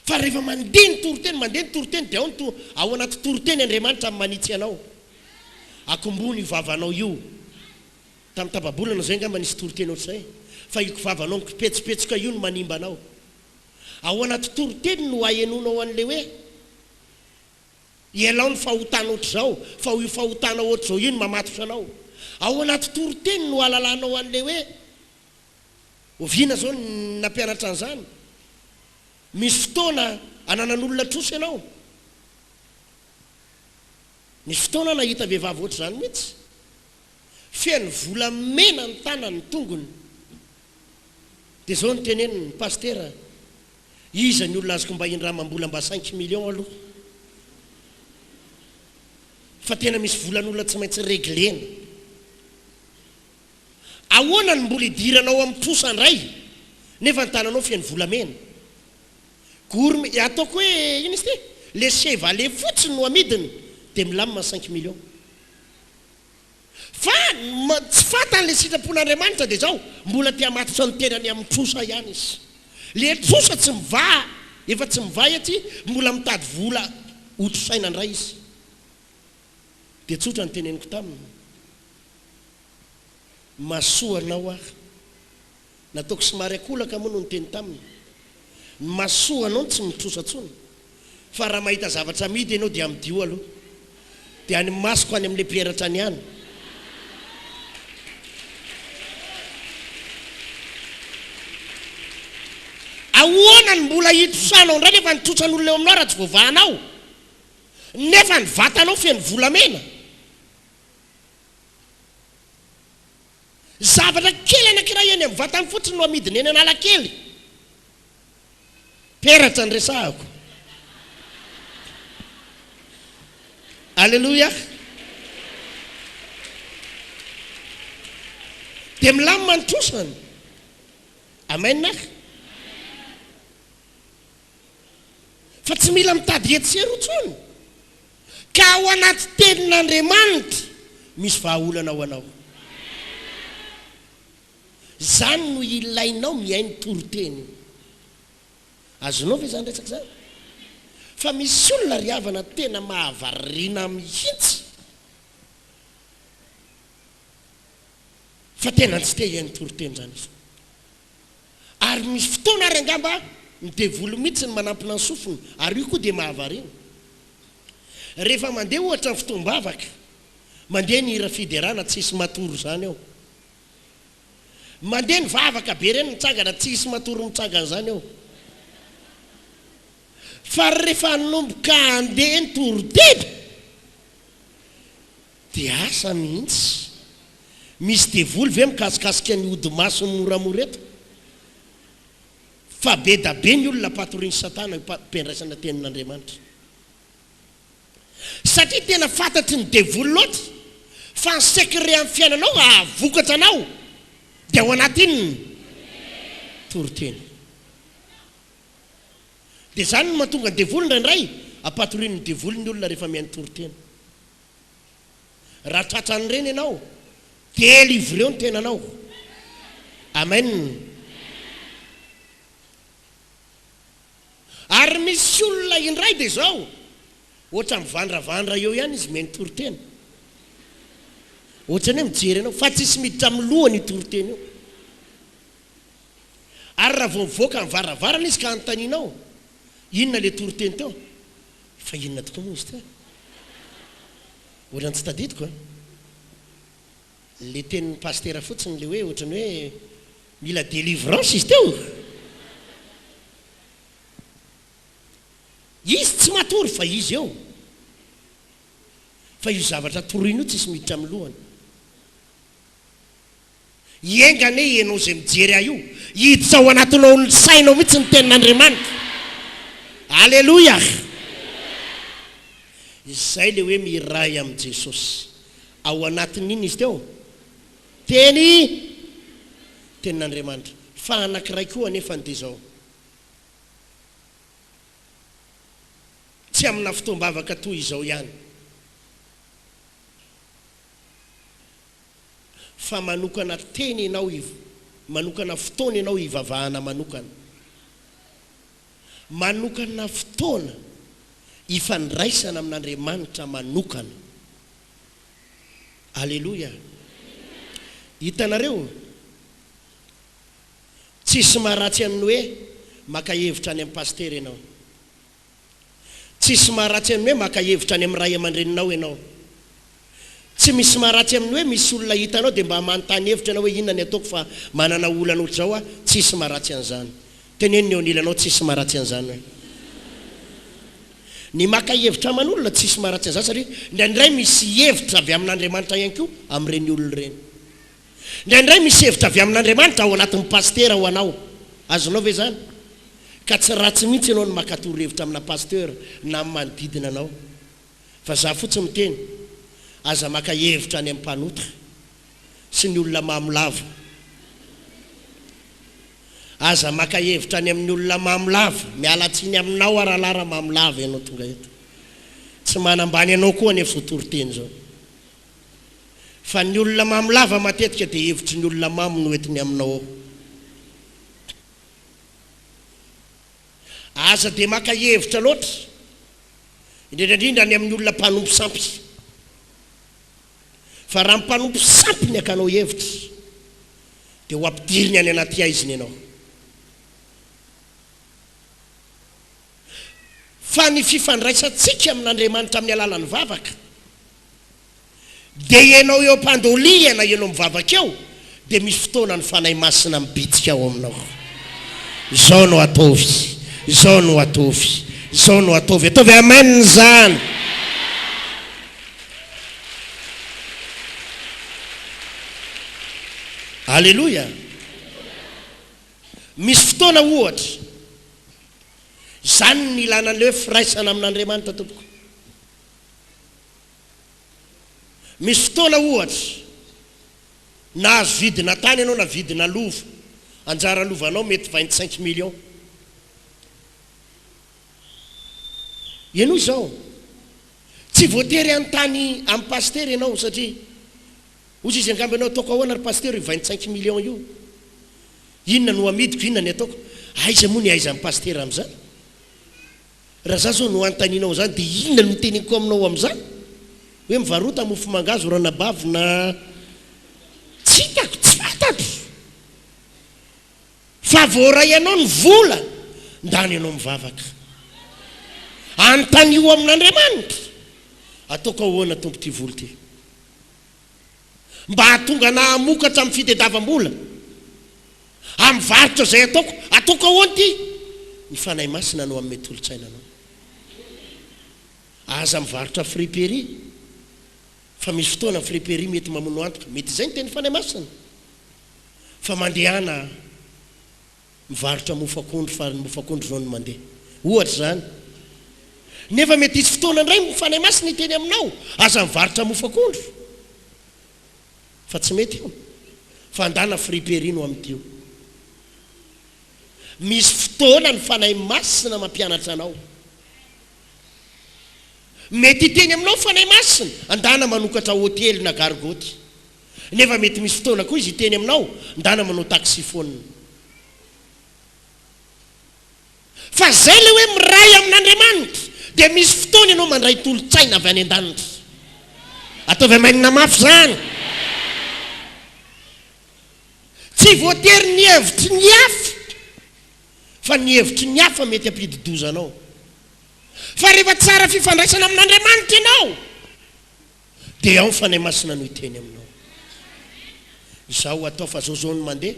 Fa rehefa mandeha ny toriteny, mandeha ny toriteny dia ao ny to, ao anaty toriteny Andriamanitra manitsy anao. Akombony io vavanao io. Tamin'ny tapa-bolana izay angamba nisy toriteny ohatr'izay. Fa io vavanao mikipetsipetsoka io no manimba anao. Ao anaty toriteny no ahenoanao an'ilay hoe. Ialao ny fahotana ohatr'izao, fa io fahotana ohatr'izao io no mamatotra anao. Ao anaty toriteny no ahalalanao an'ilay hoe oviana izao ny nampianatra an'izany. Misy fotoana ananan'olona trosa ianao. Nisy fotoana aho nahita vehivavy ohatr'izany mihitsy. Feno volamena ny tanany, ny tongony. Dia izao no teneniny, Pasitera, Iza ny olona azoko mba hindrama mbola mba cinq millions aloha fa tena misy volan'olona tsy maintsy reglena. Ahoana ny mbola idiranao amin'ny trosa ndray nefa ny tananao feno volamena. Gourmet e ataoko hoe ino izy ity le chevalet fotsiny no amidiny de milamina cinq millions. Fa ny tsy fantany ilay sitrapon'Andriamanitra dia izao, mbola te hamatotra ny tenany amin'ny trosa ihany izy. Ilay trosa tsy mivaha, efa tsy mivaha etsy, mbola mitady vola hotrosaina indray izy. Dia tsotra ny teneniko taminy, Mahasoa anao aho. Nataoko somary an-kolaka moa no niteny taminy. Ny masoa anao no tsy mitrosa intsony, fa raha mahita zavatra amidy ianao dia amidio aloha. Dia any masoko any amin'ilay mpiheratra any ihany. Ahoana no mbola hitrosanao indray nefa ny trotran'olona eo aminao raha tsy voavahanao? Nefa ny vatanao feno volamena? Zavatra kely anankiray eny amin'ny vatany fotsiny no amidiny eny Analakely. Peratra ny resahako. Aleloia. Dia milamina ny trosany. Amen ah. Fa tsy mila mitady etsy sy eroa intsony. Ka ao anaty tenin'Andriamanitra misy vahaolana ho anao. Izany no ilainao mihaino toriteny io. Azonao ve izany resaka izany? Fa misy olona ry havana tena mahavariana mihitsy fa tena tsy te hihaino toriteny izany izy. Ary misy fotoana ary angamba ny devoly mihitsy no manampina ny sofiny ary io koa dia mahavariana. Rehefa mandeha ohatra ny fotoam-bavaka, mandeha ny hira fiderana tsy hisy matory izany eo. Mandeha ny vavaka be ireny mitsangana tsy hisy matory mitsangana izany eo. Fa rehefa hanomboka handeha ny toriteny, De asa mihintsy. Misy devoly ve mikasikasika ny ody masony moramora eto? Fa be da be ny olona patorian'i satana io pmpiandraisana tenin'Andriamanitra. Satria tena fantatry ny devoly loatra fa ny secret amin'ny fiainanao ahavokatra anao dia ao anatin'ny toriteny. Dia zany no mahatonga ny devoly indraindray apatorian'ny devoly ny olona rehefa mihaino toriteny. Raha tratran'ireny ianao, delivreo ny tenanao. Amen. Ary misy olona indray dia izao, ohatra mivandravandra eo ihany izy mihaino toriteny. Ohatrany hoe mijery anao, fa tsisy miditra amin'ny lohany io toriteny io. Ary raha vao mivoaka ny varavarana izy ka anontanianao, inona ilay toriteny teo? Fa inona tokoa moa izy ity? Ohatrany tsy tadidiko an! Le tenin'ny pasitera fotsiny le hoe ohatrany hoe mila delivrance izy teo! Izy tsy matory fa izy eo! Fa io zavatra toroiny io tsisy miditra amin'ny lohany. Enga anie ianao izay mijery ahy io, hiditra ao anatinao ao ny sainao mihitsy ny tenin'Andriamanitra. Aleloia! Izay ilay hoe miray amin'i Jesosy. Ao anatin'ny inona izy teo? Teny, tenin'Andriamanitra. Fa anankiray koa anefany dia izao, tsy amina fotoam-bavaka toy izao ihany. fa manokana teny ianao hiv manokana fotoana ianao hivavahana manokana, manokana fotoana hifandraisana amin'Andriamanitra manokana. Aleloia! Hitanareo? Tsisy maharatsy an'ny hoe maka hevitra any amin'ny pasitera ianao. Tsisy maharatsy amin'ny hoe maka hevitra any amin'ny ray aman-dreninao ianao. Tsy misy maharatsy amin'ny hoe misy olona hitanao dia mba manontany hevitra ianao hoe inona ny ataoko fa manana olana ohatr'izao aho, tsisy maharatsy an'izany. Teneno ny eo anilanao tsisy maharatsy an'izany hoe. Ny maka hevitra aman'olona tsisy maharatsy an'izany satria indraindray misy hevitra avy amin'Andriamanitra ihany koa amin'ireny olona ireny. Indraindray misy hevitra avy amin'Andriamanitra ao anatin'ny pasitera ho anao. Azonao ve izany? Ka tsy ratsy mihitsy ianao ny maka torohevitra amina pasteur na amin'ny manodidina anao. Fa izaho fotsiny miteny, aza maka hevitra any amin'ny mpanota sy ny olona mamo lava. Aza maka hevitra any amin'ny olona mamo lava. Miala tsiny aminao aho rahalahy raha mamo lava ianao tonga eto. Tsy manambany anao koa anefa izao toriteny izao. fa ny olona mamo lava matetika dia hevitry ny olona mamo no entiny aminao ao. Aza dia maka hevitra loatra, indrindra indrindra any amin'ny olona mpanompo sampy. Fa raha mpanompo sampy ny akanao hevitra, dia ho ampidiriny any anaty haizina ianao. Fa ny fifandraisantsika amin'Andriamanitra amin'ny alalan'ny vavaka, Dia ianao eo am-pandoliana, ianao mivavaka eo, dia misy fotoana ny Fanahy Masina mibitsika ao aminao. Izao no ataovy, izao no ataovy, izao no ataovy. Ataovy Amen izany. Aleloia. Misy fotoana ohatra. Izany ny ilana an'ilay hoe firaisana amin'Andriamanitra tompoko. Misy fotoana ohatra, nahazo vidina tany ianao na vidina lova, anjara lovanao mety vingt cinq millions. Henoy izao, tsy voatery hanontany an'i Pasitera ianao satria hozy izy angamba ianao, ataoko ahoana ry Pasitera io vingt cinq millions io? Inona no amidiko, inona ny ataoko? Aiza moa ny aizan'i Pasitera amin'izany? Raha za zao no antaninao zany de inona no teneniko aminao amzany? Hoe mivarota mofo mangahazo ranabavy na tsy hitako tsy fantatro fa voaray anao ny vola ndany anao mivavaka antanio amin'Andriamanitra ataoko ahoana tompo ty vola ty? mba hahatonga anà hamokatra amin'ny fitediavam-bola, amin'ny varotra izay ataoko. Ataoko ahoana ity? Ny Fanahy Masina no hanome tolo-tsaina anao. Aza mivarotra friperie, fa misy fotoana ny friperie mety mamono antoka. Mety izay ny tenin'ny Fanahy Masina. Fa mandehana. Mivarotra mofo akondro fa ny mofo akondro izao no mandeha. Ohatra izany. Nefa mety hisy fotoana indray ny Fanahy Masina hiteny aminao, aza mivarotra mofo akondro fa tsy mety io. Fandàna friperie no amidy io. Misy fotoana ny Fanahy Masina mampianatra anao. Mety hiteny aminao ny Fanahy Masina, andàna manokatra hotely na gargoty. Nefa mety misy fotoana koa izy hiteny aminao, ndana manao taxi-phone. Fa zay ilay hoe miray amin'Andriamanitra, dia misy fotoana ianao mandray tolo-tsaina avy any an-danitra. Ataovy Amen mafy izany. Tsy voatery ny hevitry ny hafa, fa ny hevitry ny hafa mety hampidi-doza anao. Fa rehefa tsara fifandraisana amin'Andriamanitra ianao, Dia ao ny Fanahy Masina no hiteny aminao. Izao atao fa zao zao no mandeha.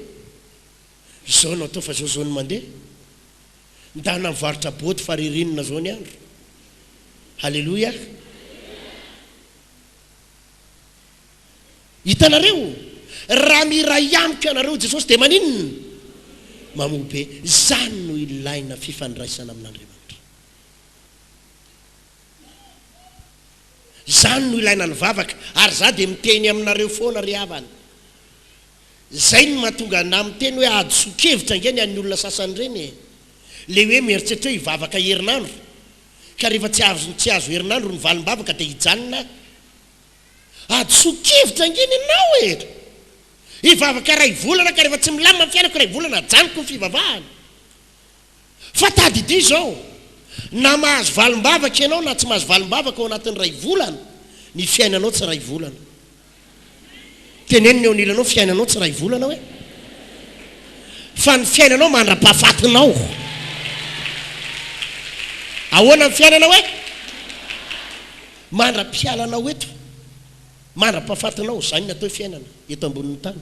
Izao no atao fa zao zao no mandeha. Ndana mivarotra boaty fa ririnina zao ny andro. Haleloia. Hitanareo? Raha miray amiko ianareo Jesosy dia maninona? Mamoa be. Izany no ilaina fifandraisana amin'Andriamanitra. Izany no ilaina ny vavaka, ary izaho dia miteny aminareo foana ry havana. Izay no mahatonga ahy miteny hoe hadisoan-kevitra ange ny an'ny olona sasany ireny e! Ilay hoe mieritreritra hoe hivavaka herinandro, ka rehefa tsy azo tsy azo herinandro ny valim-bavaka dia hijanona aho. Hadisoan-kevitra ange ny anao e! Hivavaka iray volana ka rehefa tsy milamina ny fiainako iray volana ajanoko ny fivavahana. Fa tadidio izao, na mahazo valim-bavaka ianao na tsy mahazo valim-bavaka ao anatin'ny iray volana, ny fiainanao tsy iray volana. Teneno ny eo anilanao, fiainanao tsy iray volana hoe. Fa ny fiainanao mandra-pahafatinao. Ahoana ny fiainanao hoe? Mandra-pialanao eto. Mandra-pahafatinao, izany ny atao hoe fiainana, eto ambonin'ny tany.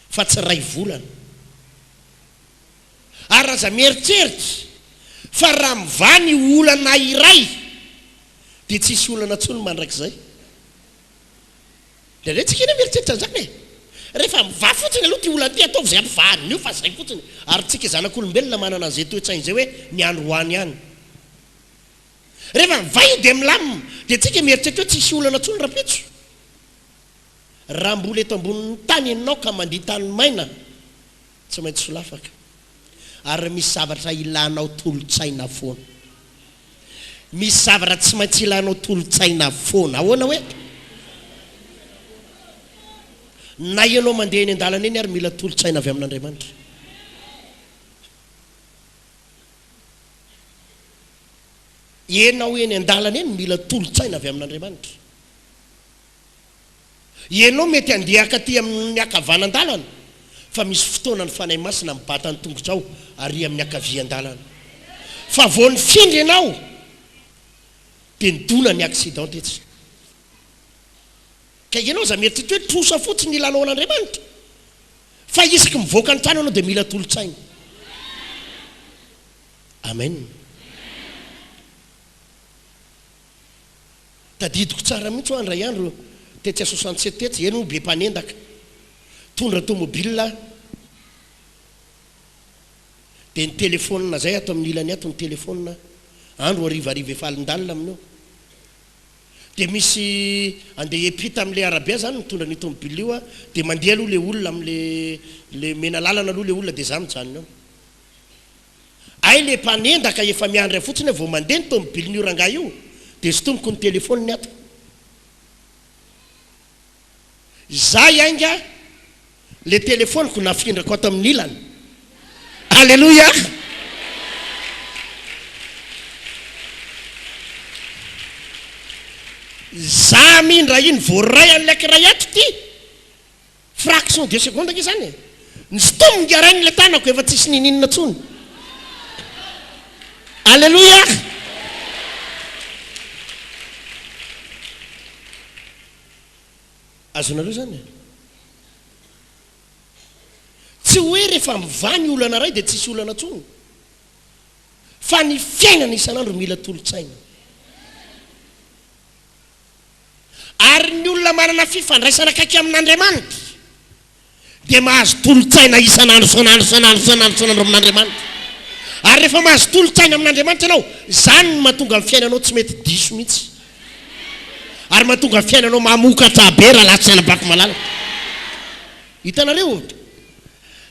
fa tsy iray volana. Ary aza mieritreritra fa raha mivaha ny olana iray dia tsy hisy olana intsony mandrakizay. Indraindray tsy ekena mieritreritra an'izany e! Rehefa mivaha fotsiny aloha ity olana ity, ataovy izay hampivaha an'io fa izay fotsiny. Ary tsika zanak'olombelona manana an'izay toe-tsaina izay hoe ny andro ho any ihany. Rehefa mivaha io dia milamina, dia tsika mieritreritra hoe tsy hisy olana intsony rahampitso. Raha mbola eto ambonin'ny tany ianao ka mandia tany maina, tsy maintsy solafaka. Ary misy zavatra ilanao tolo-tsaina foana. Misy zavatra tsy maintsy ilanao tolo-tsaina foana. Ahoana hoe? Na ianao mandeha eny an-dalana eny ary mila tolo-tsaina avy amin'Andriamanitra. Ianao eny an-dalana eny mila tolo-tsaina avy amin'Andriamanitra. Ianao mety handeha hankaty amin'ny akavanan-dalana, fa misy fotoana ny Fanahy Masina mibata ny tongotrao ary amin'ny ankavian-dalana. Fa vao nifindra ianao dia nidona ny accident tetsy. Ka ianao aza mieritreritra hoe trosa fotsiny ny lalaon'Andriamanitra. Fa isaky mivoaka ny trano ianao dia mila tolon-tsaina. Amen. Tadidiko tsara mihitsy hoa indray andro tetsy à soixante sept tetsy, eny hono be mpanendaka tondra tomobile aho dia ny telephone zay ato amin'ny ilany ato ny telephone andro harivariva efa alindalina amin'io dia misy andeha hiampita amin'ilay arabe aho zany mitondra an'io tomobile io aho dia mandeha aloha ilay olona amin'ilay ilay mena lalana aloha ilay olona dia za mijanona eo. Hay le mpanendaka efa miandry ahy fotsiny aho vao mandeha ny tomobilin'io rangahy io dia sintoniko ny telefoniny ato. Izay ainga le telefoniko nafindrako ato amin'ny ilany. Aleloia! Za mi ndra iny voaray an'ilay kiray ato ty. Fraction de seconde ange zany e! Ny stomp ngy arahin' ilay tanako efa tsisy nininona tsony. Aleloia! Azonareo zany e! Tsy hoe rehefa mivaha ny olana iray dia tsisy olana tsony. Fa ny fiainana isan'andro mila tolotsaina. Ary ny olona manana fifandraisana akaiky amin'Andriamanitra dia mahazo tolo-tsaina isan'andro, isan'andro, isan'andro, isan'andro, isan'andro amin'Andriamanitra. Ary rehefa mahazo tolo-tsaina amin'Andriamanitra ianao, izany no mahatonga ny fiainanao tsy mety diso mihitsy. Ary mahatonga ny fiainanao mamokatra be raha lahy tsy nanabako malalaka. Hitanareo?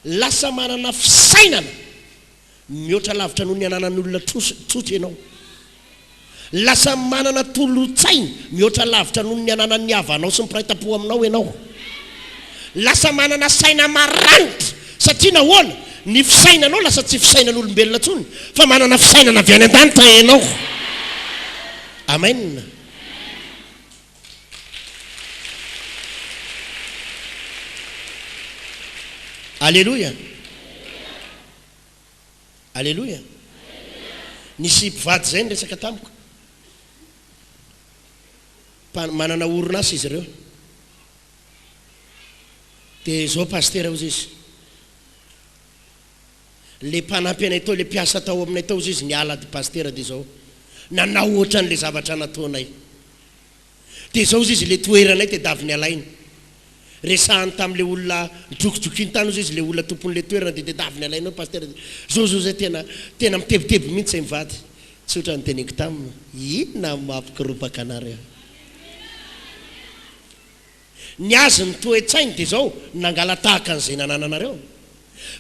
Lasa manana fisainana Mihoatra lavitra noho ny ananan'ny olona tsotra ianao. Lasa manana tolo-tsaina mihoatra lavitra noho ny ananan'ny havanao sy ny mpiray tampo aminao ianao. Lasa manana saina maranitra. Satria nahoana? Ny fisainanao lasa tsy fisainan'olombelona intsony, fa manana fisainana avy any an-danitra ianao. Amen. Aleloia! Aleloia! Nisy mpivady izay niresaka tamiko, mpa- manana orinasa izy ireo. Dia izao pasitera, hozy izy, Le mpanampy anay tao, le mpiasa tao aminay tao ozy izy niala de pasitera de zao nanao ohatranle zavatra nataonay de zao ozy izy le toeranay tedaviny alaina resahany tamle olona nidrokidrokin tany ozy izy le olona tomponle toerana de tedaviny alaina eo pasitera de zao zao zay tena tena mitebiteby mintsy zay mivady tsy otrany teneniko taminy inona mamikoropaka anareo. Ny azy ny toe-tsainy dia izao, nangalatahaka an'izay nanananareo.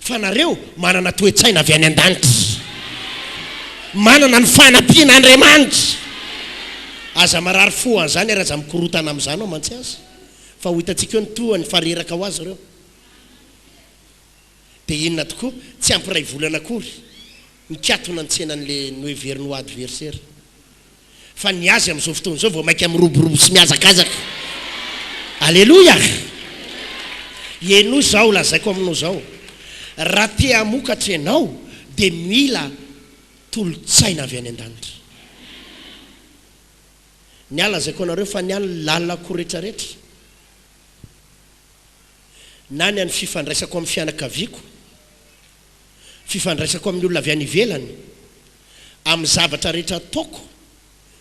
Fa nareo manana toe-tsaina avy any an-danitra. Manana ny fanampian'Andriamanitra. Aza marary fo an'izany ary aza mikorotana amin'izany ao mantsy aza. Fa ho hitantsika eo ny toa ny fareraka ho azy ireo. Dia inona tokoa? Tsy ampy iray volana akory, nikatona ny tsenan'ilay noheveriny ho adversera. Fa ny azy amin'izao fotoana izao vao mainka miroborobo sy mihazakazaka. Aleloia! Henoy izao lazaiko aminao izao, raha te hamokatra ianao dia mila tolo-tsaina avy any an-danitra. Ny ahy lazaiko anareo fa ny ahy ny lalanako retraretra, na ny an'ny fifandraisako amin'ny fianakaviako, fifandraisako amin'ny olona avy any ivelany, Amin'ny zavatra rehetra ataoko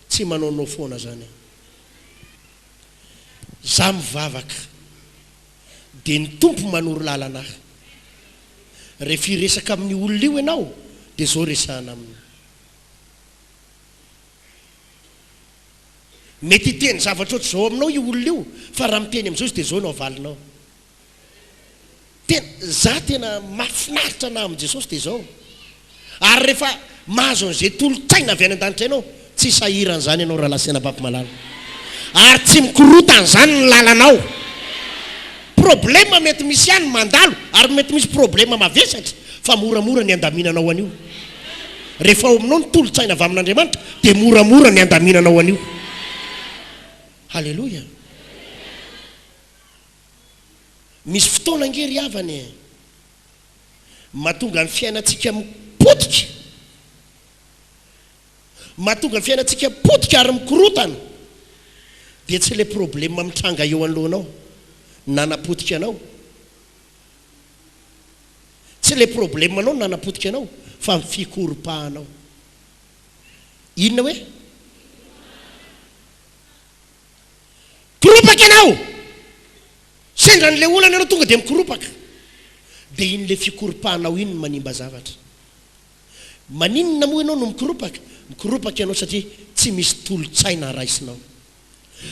tsy manao no foana zany aho. Za mivavaka de ny Tompo manoro lalana ahy. Rehefa hiresaka amin'io olona io ianao de zao resahana aminy. Mety hiteny zavatra ohatr'izao aminao io olona io fa raha miteny amin'izao izy de zao no avalinao. Tena, za tena mahafinaritra anahy amin'i Jesosy dia izao, ary rehefa mahazo an'izay tolon-tsaina avy any an-danitra ianao, tsy sahira an'izany ianao Rahalahy sy Anabavy malala, ary tsy mikorota an'izany ny lalanao. Problema mety misy ihany mandalo, ary mety misy problema mavesatra, fa moramora ny andaminanao an'io. Rehefa ao aminao ny tolon-tsaina avy amin'Andriamanitra, dia moramora ny andaminanao an'io. Haleloia! Misy fotoana ange ry havana e, mahatonga ny fiainantsika potika, mahatonga ny fiainantsika potika ary mikorotana, dia tsy ilay problema mitranga eo anoloanao nanapotika anao, tsy ilay problemanao no nanapotika anao fa ny fikoropahanao. Inona hoe? Koropaka ianao! Sendra an'ilay olana ianao tonga dia mikoropaka. Dia iny ilay fikoropahanao iny no manimba zavatra. Maninona moa ianao no mikoropaka? Mikoropaka ianao satria tsy misy tolo-tsaina raisinao.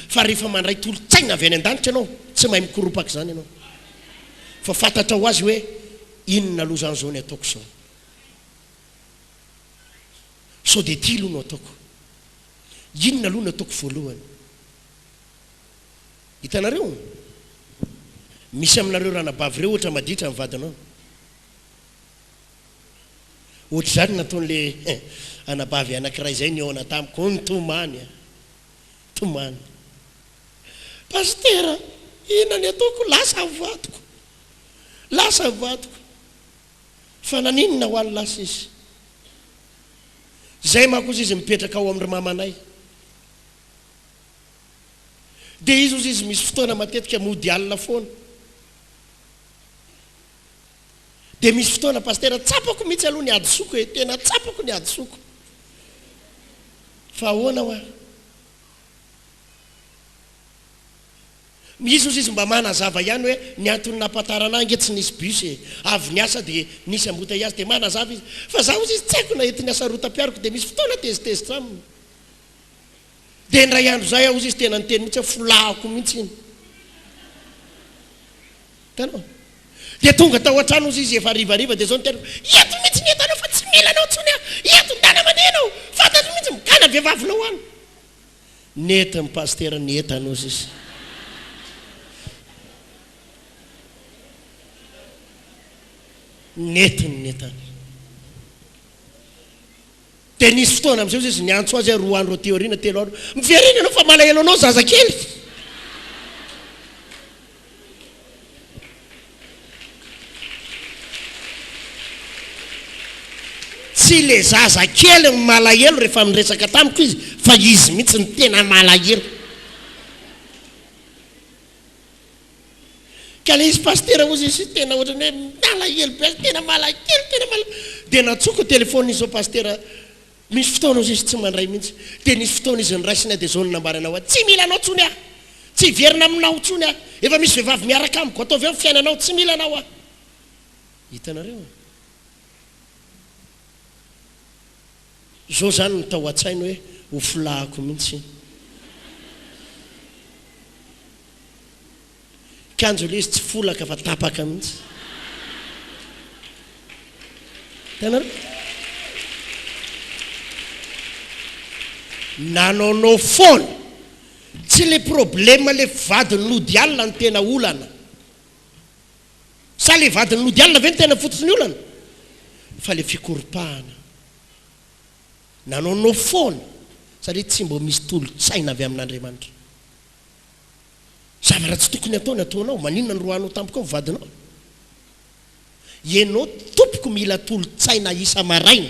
Fa rehefa mandray tolo-tsaina avy any an-danitra ianao, tsy mahay mikoropaka izany ianao. Fa fantatrao ho azy hoe inona loza an'izao ny ataoko izao. Sao dia ity aloha no ataoko. Inona aloha no ataoko voalohany? Hitanareo? Misy aminareo ranabavy ireo ohatra maditra ny vadinao. Ohatr'izany nataon'ilay anabavy anankiray izay nihaona tamiko, hono tomany a! Tomany. Pasitera, inona ny ataoko? Lasa ny vadiko. Lasa ny vadiko. Fa naninona ho'a ny lasa izy? Zay manko ozy izy mipetraka ao amindry mamanay dia izy ozy izy misy fotoana matetika mody alina foana dia misy fotoana pasitera tsapako mitsy aloha ny adisoko e tena tsapako ny adisoko fa ahoana hoa Jesus izy mba manazava ihany hoe ny antony nampatarana ahy nge tsy nisy bus e, avy niasa dia nisy embouteillage dia manazava izy fa za ozy izy tsy aiko na ety niasa rotampiaroko dia misy fotoana tezitezitra aminy dia indray andro zay aho ozy izy tena niteny mihitsy hoe folahako mihitsy iny hitanao dia tonga tao an-trano ozy izy efa harivariva dia zao ny tenako eto mihitsy ny entanao fa tsy mila anao intsony aho eto ndana mandeha ianao fantatro mihitsy migana vevavinao any Nety ny pasitera nietanosy izy. Nety ny nietany. Dia nisy fotoana amin'izay izy niantso azy aho roa andro aty aoriana, telo andro. Miverena ianao fa malahelo anao zazakely. Tsy ilay zaza kely no malahelo rehefa miresaka tamiko izy fa izy mihitsy no tena malahelo. Ka ilay izy Pasitera hozy izy tena ohatran'ny hoe malahelo be azy, tena malahelo, tena malahelo. Dia nantsoiko ny telefaoniny izy sao Pasitera, Misy fotoana ozy izy tsy mandray mihitsy. Dia nisy fotoana izy niraisiny ahy dia izao no nambarany aho hoe tsy mila anao intsony aho. Tsy hiverina aminao intsony aho. Efa misy vehivavy miaraka amiko. Ataovy ao ny fiainanao. Tsy mila anao aho. Hitanareo? Izao izany no tao an-tsainy hoe ho filahiko mihitsy iny. Mikanjo ilay izy tsy folaka fa tapaka mihitsy. Hitanareo? Nanaonao foana. Tsy ilay problème ilay vadiny nody alina no tena olana. Sa ilay vadiny nody alina ve no tena fototr'ny olana? Fa ilay fikoropahana. Nanaonao foana satria tsy mbo misy tolo-tsaina avy amin'Andriamanitra. Zavatra tsy tokony hatao ny ataonao. Maninona no roahanao tampoka ao ny vadinao? Ianao tompoko mila tolo-tsaina isa-maraina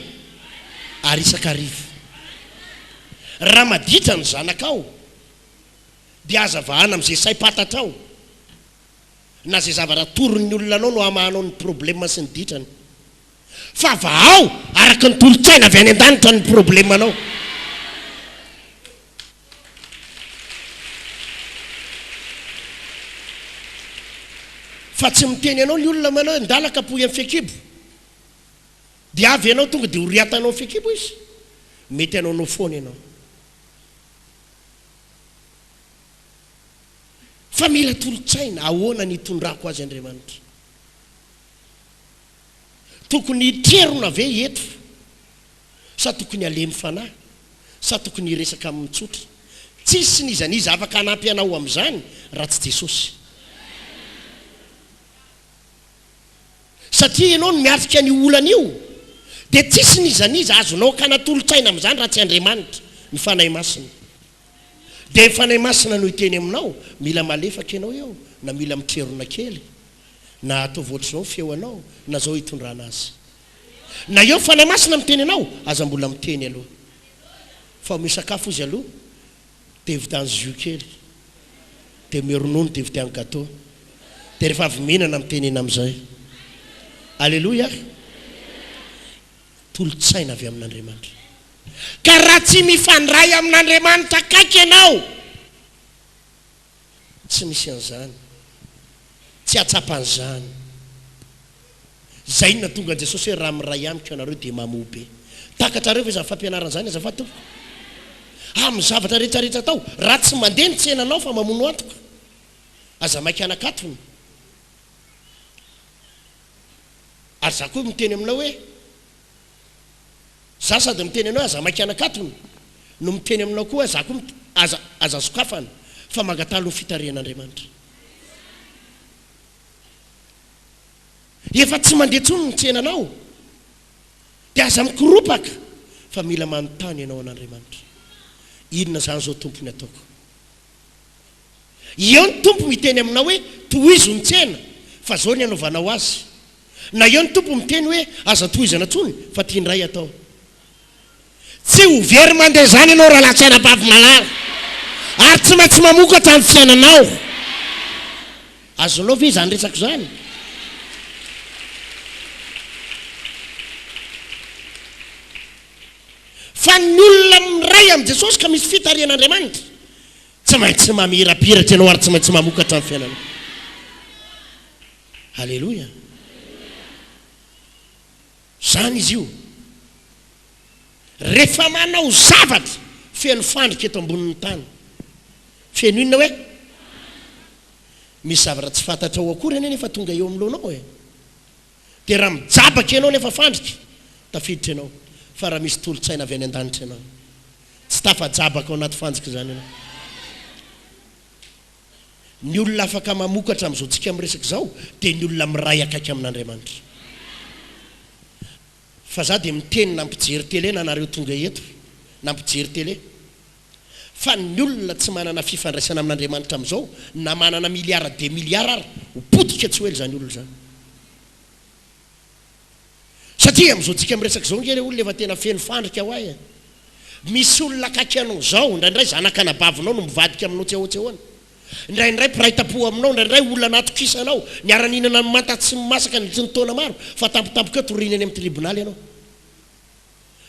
ary isan-kariva. Raha maditra ny zanakao dia aza vahana amin'izay saim-pantatrao na izay zavatra atoron'ny olona anao no hamahanao ny problema sy ny ditrany. Fa vahao araka ny tolo-tsaina avy any an-danitra ny problemanao. Fa tsy miteny anao ny olona manao hoe ndala kapohy amin'ny fekibo. Dia avy ianao tonga dia oriatanao ny fekibo izy. Mety hanaonao foana ianao. Fa mila tolo-tsaina, ahoana ny hitondrako azy Andriamanitra? Tokony hitrerona ve i Heto sa tokony alemy fanahy sa tokony hiresaka aminy tsotra? Tsisy n'iza n'iza afaka hanampy anao amin'izany raha tsy Jesosy. Satria ianao no miatrika an'io olana io dia tsisy n'iza n'iza azonao akana tolo-tsaina amin'izany raha tsy Andriamanitra, ny Fanahy Masina. Dia ny Fanahy Masina no hiteny aminao, mila malefaka ianao eo na mila mitrerona kely. Na ataovy ohatr'izao ny feonao na zao itondrana azy. Na eo Fanahy Masina miteny anao aza mbola miteny aloha. Fa omeo sakafo izy aloha dia vidiano jus kely. Dia omeo ronono dia vidiano gateau. Dia rehefa avy mihinana mitenena amin'izay. Aleloia! Tolo-tsaina avy amin'Andriamanitra. Ka raha tsy mifandray amin'Andriamanitra akaiky ianao, Tsy misy an'izany. Tsy hahatsapa an'izany. Izay no nahatonga an'i Jesosy hoe, Raha miray amiko ianareo, dia mamoa be. Takatrareo ve izany fampianarana izany azafady tompoko? Amin'ny zavatra rehetrarehetra atao, raha tsy mandeha ny tsenanao fa mamono antoka, aza maika hanakatona. Ary izaho koa miteny aminao hoe. Za sady miteny anao aza maika anakatony no miteny aminao koa za koa aza aza sokafana fa mangataha aloha fitarihan'Andriamanitra efa tsy mandeha tsony ny tsenanao de aza mikoropaka fa mila manontany ianao an'Andriamanitra inona zany zao Tompo ny ataoko eo ny Tompo miteny aminao hoe tohizo ny tsena fa zao ny anaovanao azy Na eo ny Tompo miteny hoe aza antohizana tsony fa tiany ray atao. Tsy ho very mandeha izany ianao rahalahy sy anabavy malala ary tsy maintsy mamokatra amin'ny fiainanao. Azonao ve izany resako izany? Fa ny olona miray amin'i Jesosy ka misy fitarihan'Andriamanitra, tsy maintsy mamirapiratra ianao ary tsy maintsy mamokatra amin'ny fiainanao. Aleloia! Izany izy io. Rehefa manao zavatra feno fandrika eto ambonin'ny tany. Feno inona hoe? Misy zavatra tsy fantatrao akory anie nefa tonga eo amin'ny loanao e. Dia raha mijabaka ianao nefa fandrika, tafiditra ianao. Fa raha misy tolo-tsaina avy any an-danitra ianao, tsy tafajabaka ao anaty fanjika izany ianao. Ny olona afaka mamokatra amin'izao tsika miresaka izao dia ny olona miray akaiky amin'Andriamanitra. Fa za dia miteny na mpijery tele na nareo tonga eto na mpijery tele. Fa ny olona tsy manana fifandraisana amin'Andriamanitra amin'izao na manana milliards de milliards ary ho potika tsy ho ela izany olona izany. Satria amin'izao tsika miresaka izao nge le olona efa tena feno fandrika hoa e! Misy olona akaiky anao izao, indraindray zanak'anabavinao no mivadika aminao tsy ahoan-tsehoana. Indraindray mpiray tampoha aminao, indraindray olona natokisanao, niara-nihinana ny manta tsy masaka nandritry ny taona maro, fa tampotampokeo toriana eny amin'ny tribonaly ianao.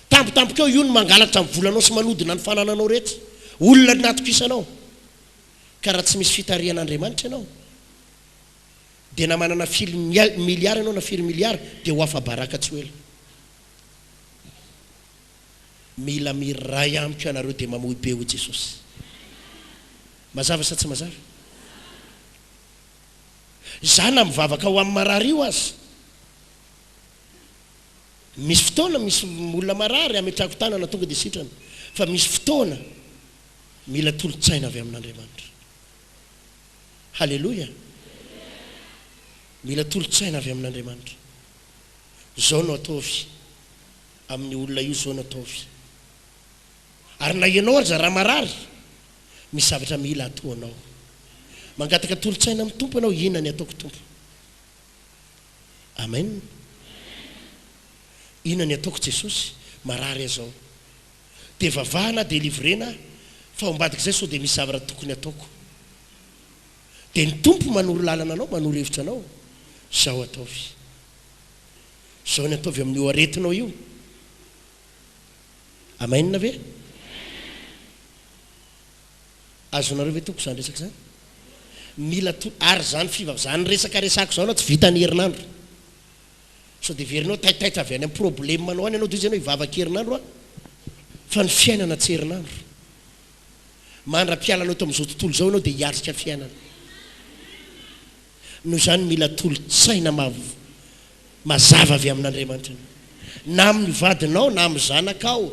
Tampotampokeo io no mangalatra ny volanao sy manodina ny fanananao rehetra. Olona natokisanao. Ka raha tsy misy fitarihan'Andriamanitra ianao, Dia na manana firy milliard ianao na firy milliard dia ho afa-baraka tsy ho ela. Mila miray amiko ianareo dia mamoy be hoy Jesosy. Mazava sa tsy mazava? Za na mivavaka ho amin'ny marary io aza. Misy fotoana misy olona marary ametrahako tanana tonga dia sitrana. Fa misy fotoana mila tolon-tsaina avy amin'Andriamanitra. Haleloia! Mila tolo-tsaina avy amin'Andriamanitra. Zao no ataovy amin'ny olona io, zao no ataovy. Ary na ianao aza raha marary, misy zavatra mila ataonao. Mangataka tolo-tsaina amin'ny Tompo ianao, inona ny ataoko Tompo? Amen. Inona ny ataoko Jesosy? Marary aho zao. dia vavaha na delivrena aho fa ambadik'izay sao dia misy zavatra tokony hataoko dia ny tompo manoro lalana anao manoro hevitra anao zao ataovy zao ny ataovy amin'io aretinao io amainina ve azonareo ve toko izany resaka izany mila to ary izany fivav zany resaka resako izao na tsy vita ny herinandro Sao dia heverinao taitaitra avy any amin'ny problemanao any ianao dia hoy izy ianao hivavaka herinandro aho fa ny fiainana tsy herinandro. Mandra-pialana eto amin'izao tontolo izao ianao dia hiatrika fiainana. Noho izany mila tolo-tsaina mazava avy amin'Andriamanitra ianao. Na amin'ny vadinao na amin'ny zanakao.